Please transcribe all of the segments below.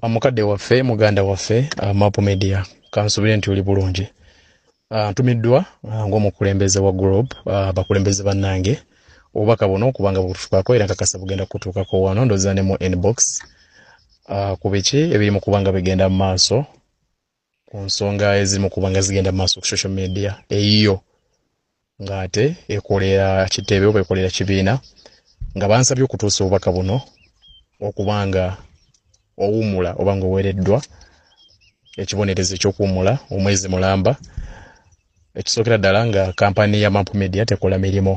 Amukadde waffe muganda waffe uh, Map Media kansubire nti oli bulungi. Uh, ntumiddwa uh, ng'omukulembeze wa Group uh, bakulembeze bannange obubaka buno kubanga bututukako era nkakasa bugenda kutuukako wano ndoza ne mu inbox uh, ku biki ebiri mu kubanga bigenda mu maaso ku nsonga eziri mu kuba nga zigenda mu maaso ku social media eyiyo ng'ate ekolera kitebe oba ekolera kibiina nga bansabye okutuusa obubaka buno okuba nga owummula oba ng'oweereddwa ekibonerezo ekyokuwummula omwezi mulamba ekisookera ddala nga kampani ya map media tekola mirimu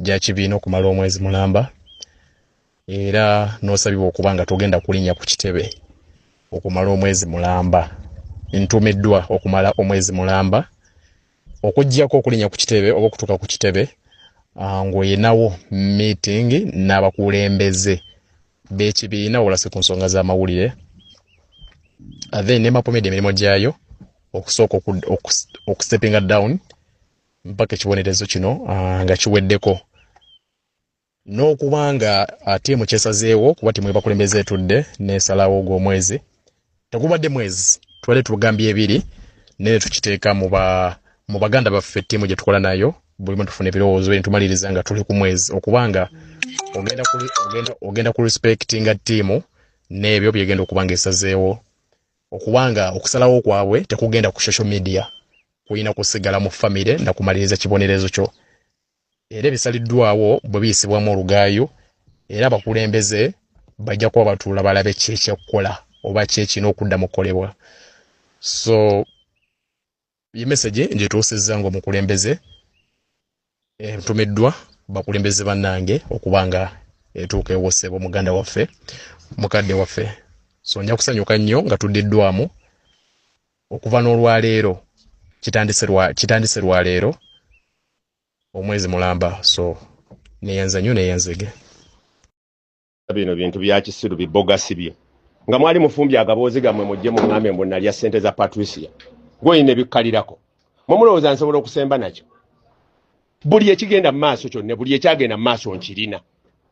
gya kibiina okumala omwezi mulamba era nosabibwa okuba nga togenda kulinya ku kitebe okumala omwezi mulamba ntumiddwa okumala omwezi mulamba okujjako okulinya ku kitebe oba okutuuka ku kitebe ah, ng'oyinawo meeting n'abakulembeze b'ekibiina olase ku nsonga z'amawulire ah, then nemapomedi emirimu gyayo okusooka okusepinga down mpaka ekibonerezo kino ah, nga kiweddeko n'okuba nga ttiimu kyesazeewo kuba ttiimu ebakulembeza etudde n'esalawo gw'omwezi tegubadde mwezi tubadde tugambye ebiri naye tukiteeka mu baganda baffe ttiimu gye tukola nayo bulimu tufuna ebirowoozo netumaliriza nga tuli ku mwezi okuba nga ogenda ku respectinga ttiimu n'ebyo byegenda okuba nga esazeewo okuba nga okusalawo kwabwe tekugenda ku social media kulina kusigala mu famire nakumaliriza kibonerezo kyo era ebisaliddwawo bwe biyisibwamu olugaayu era abakulembeze bajja kuba batuula balabe ki ekyekukola oba ki ekirina okudda mu kukolebwa so ye mesegi ngituusizza ngaomukulembeze entumiddwa eh, bakulembeze bannange okuba nga etuuka ewosebo muganda waffe mukadde waffe so nja kusanyuka nnyo nga tuddiddwamu okuva n'olwaleero kitandise lwaleero omwezi mulamba so neyanza nyo neyanzege bino bintu byakisiru bibogasi bye nga mwali mufumbye agaboozi gammwe mujje muŋŋambe mbu nalya ssente za patricia gwoyina ebikkalirako mwe mulowooza nsobola okusemba nakyo buli ekigenda mu maaso kyonna buli ekyagenda mu maaso nkirina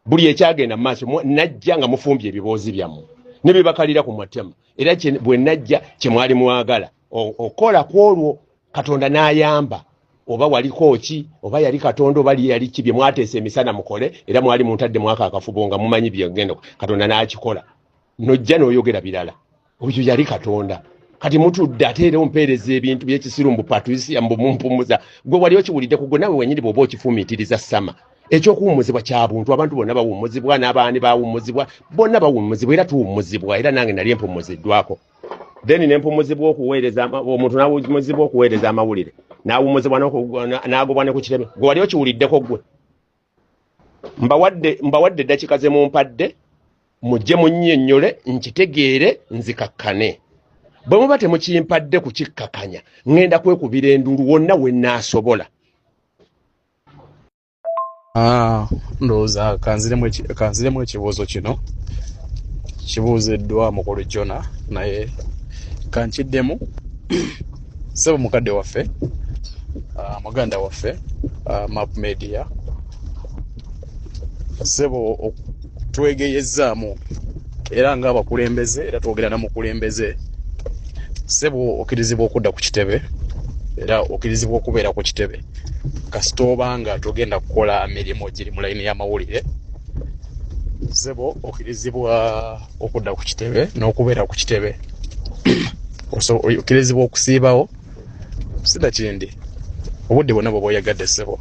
buli ekyagenda mu maaso najja nga mufumbye ebiboozi byammwe ne bye bakalira ku matema era bwe najja kye mwali mwagala okukola ku olwo katonda n'ayamba oba waliko ki oba yali katonda oba yali ki bye mwateesa emisana mukole era mwali muntadde mwaka akafubo nga mumanyi byegenda katonda n'akikola nojja n'oyogera birala oyo yali katonda kati mutudde ate era ompeereza ebintu byekisiru mbu patricia mbu mumpumuza gwe wali okiwulidde kugwe nawe wenyini bwoba okifumiitiriza sama ekyokuwumuzibwa kya buntu abantu bonna bawumuzibwa n'abaani bawumuzibwa bonna bawumuzibwa era tuwumuzibwa era nange nali empumuziddwako then nempumuzibwa okuweereza omuntu nawumuzibwa okuweereza amawulire nawumuzibwa nagobwa ne ku kireme gwe wali okiwuliddeko gwe mbawadde mbawadde eddakika ze mumpadde mujje munnyonnyole nkitegeere nzikakkane bwe muba temukimpadde kukikkakanya ŋŋenda kwekubira endulu wonna we nnaasobola ah, ndowooza kanziremu ekibuuzo kino kibuuziddwa mukulu jona naye kankiddemu sebo mukadde waffe uh, muganda waffe uh, map media sebo twegeyezzaamu era nga abakulembeze era twogera na mukulembeze sebo okirizibwa okudda ku kitebe era okirizibwa okubeera ku kitebe kasita obanga togenda kukola mirimu giri mu layini y'amawulire sebo okirizibwa okudda ku kitebe n'okubeera ku kitebe okkirizibwa okusiibawo sida kindi obudde bwonna bweba oyagadde ssebo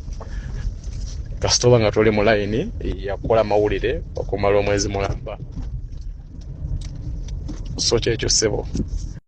kasita oba nga tuli mu layini yakukola amawulire okumala omwezi mulamba so kyekyo ssebo